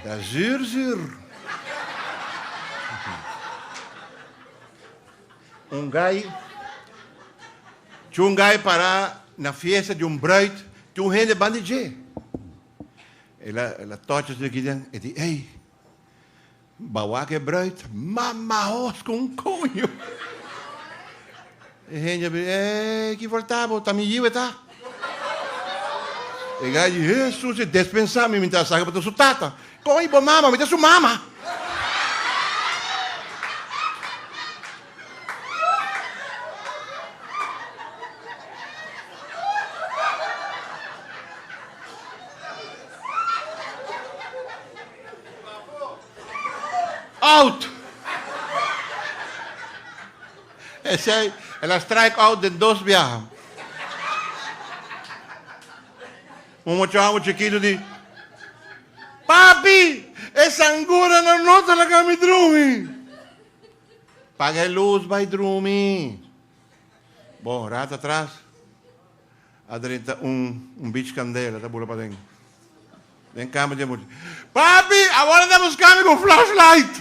Ta zuur zuur. Un guy, tjoen guy para na fiesta di un bruid, tjoen hende bandi dje. El a touch asina aquí den, e di, ey. Ba wak e bruid, mama hos ku un koño. E hende a bira, Ee, ki for ta bo, ta mi yiu e ta. E gay di, Hee sus, e despensá mi, mi ta saki pa ta su tata. Kon i bo mama, mi ta su mama. Out! Esei el a strike out den dos biaha. Un mochoangu chikitu di, Papi, e sanguranan no ta laga mi drumi! Paga e lus, bai drumi! Bon, rat atras. A drenta un un bich candela ta bula paden den cama dje mucha. Papi awor ta busca mi cu un flashlight.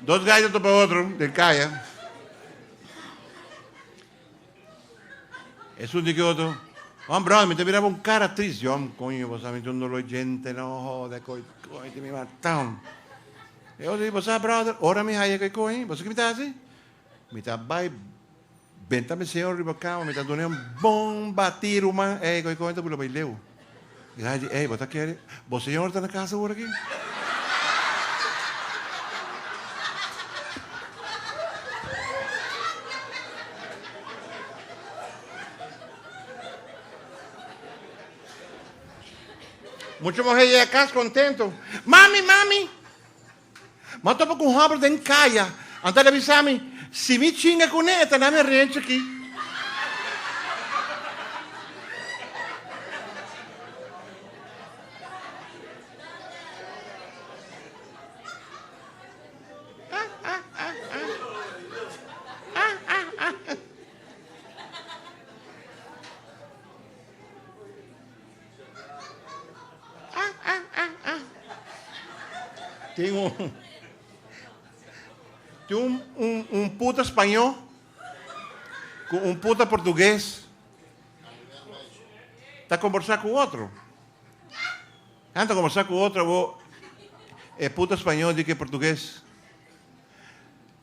Dos gay ta topa otro den caya. Esun di ki otro, Juan Brown, mi ta miraba un cara tris. John, Coño, bo sa mi ta un dolo djente, no hode cu e coño, tin mi matam. E otro di, Bo sa, brother, ora mi haya cu e coño, bo sa ki mi ta haci? Mi ta bay benta mi señor riba cama, mi ta dun'e un bon bati ruman, ey, cu e coño ta bula bay leu. I Heidi, Hey, bo ta kere? Bo señor ta na casa ora aki? Mucha muhé yega cas contento, Mami, mami! M'a topa ku un hòmber den kaya. Anto el a bisa mi, Si mi chinga kuné, e ta na mi renchi aki. Tin un tin un un un puta spañó ku un puta portugues ta kombersá ku otro. Nan ta kombersá ku otro, e puta spañó di ke portugues.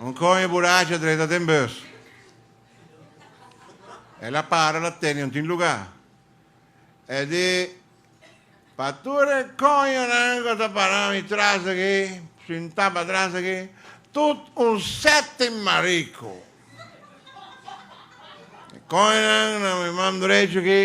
Un koño buracha drenta den bus. El a para la tende un tin lugá. El di, Pa tur e koñonan ku ta pará mi tras aki, sintá patras aki, tut un sèt mariku. E koñonan na mi man drechu aki.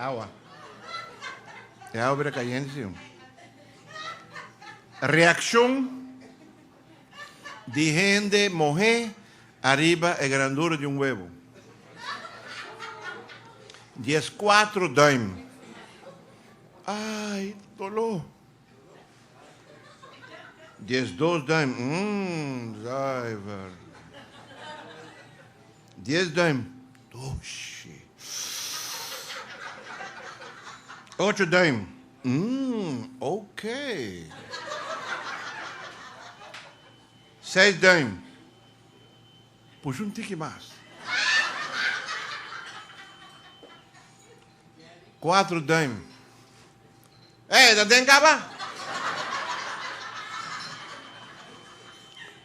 Awa. E awa bira cayente, sí. Reaccion. di hende mohé ariba e grandura di un webo. Dies kuatro duim. Ai, doló! Dies dos duim. Umm, zuiver! Dies duim. Doshi! Ocho duim. Umm, ok. Seis duim. Push un tiki mas. Kuatro duim. Ey, ta den kaba?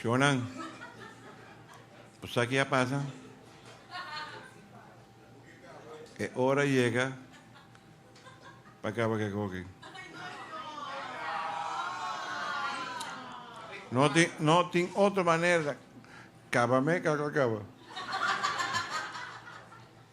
Shonan, bo sa ke a pasa? E ora yega pa kaba ku e goki. No tin, no tin otro manera. Kaba me, kaka kaba.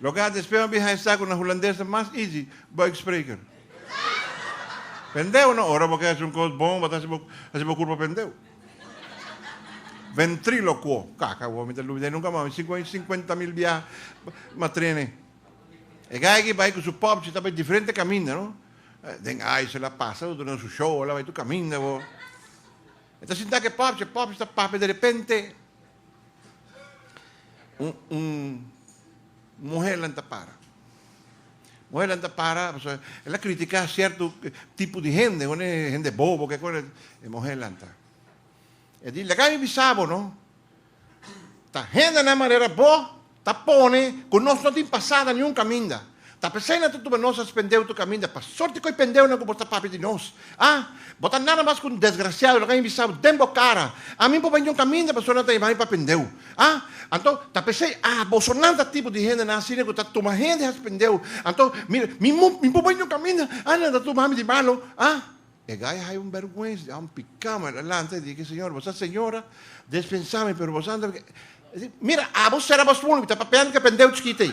Lo ke a despe ma biha esa ku na hulandes ta mas easy buikspreker. Pendeu no, ora bo ke hasi un kos bon bo ta hasi hasi bo kurpa pendeu. Ventriloquo, kaka awor mi ta lubida e nunka mas, mi sinku aña sinkuenta mil biaha ma trene. E gai aki bai ku su popchi ta bai diferente kaminda no, den ice la pasa lo duna su show la bai tur kaminda bo. E ta sinta ku e popchi, e popchi ta papia derepente. Un muhernan ta para. Muhernan ta para pasobra el a critiká cierto tipo di hende, un hende bobo ke kos, e muhernan ta. E di, Laga mi bisa bo no, ta hendenan manera bo Ta pone cu nos no tin pasada niun caminda. Ta pesey na tutuba nos a spendeu tu caminda pa sorti cu e pendeunan cu bo ta papia di nos. A! Bo ta nada mas cu un desgraciado, lo cu a invisau den bo cara, Ami por bai niun caminda pasobra nan ta yama mi pa pendeu. A! Anto, ta pesey, A! Boso nan ta tipo di hendenan asina cu ta tuma hende ha spendeu. Anto, mira, mi, mi por bai niun caminda, a! Nan ta tuma ami di malo. A! E gay hay un berguens di ham picá man, el lanta y di, Ke señor bo sa señora? Despensá mi, pero bo sa anda picá. El di, Mira, abo sera bo smoel, mi ta papeando ku e pendeu chikito ey.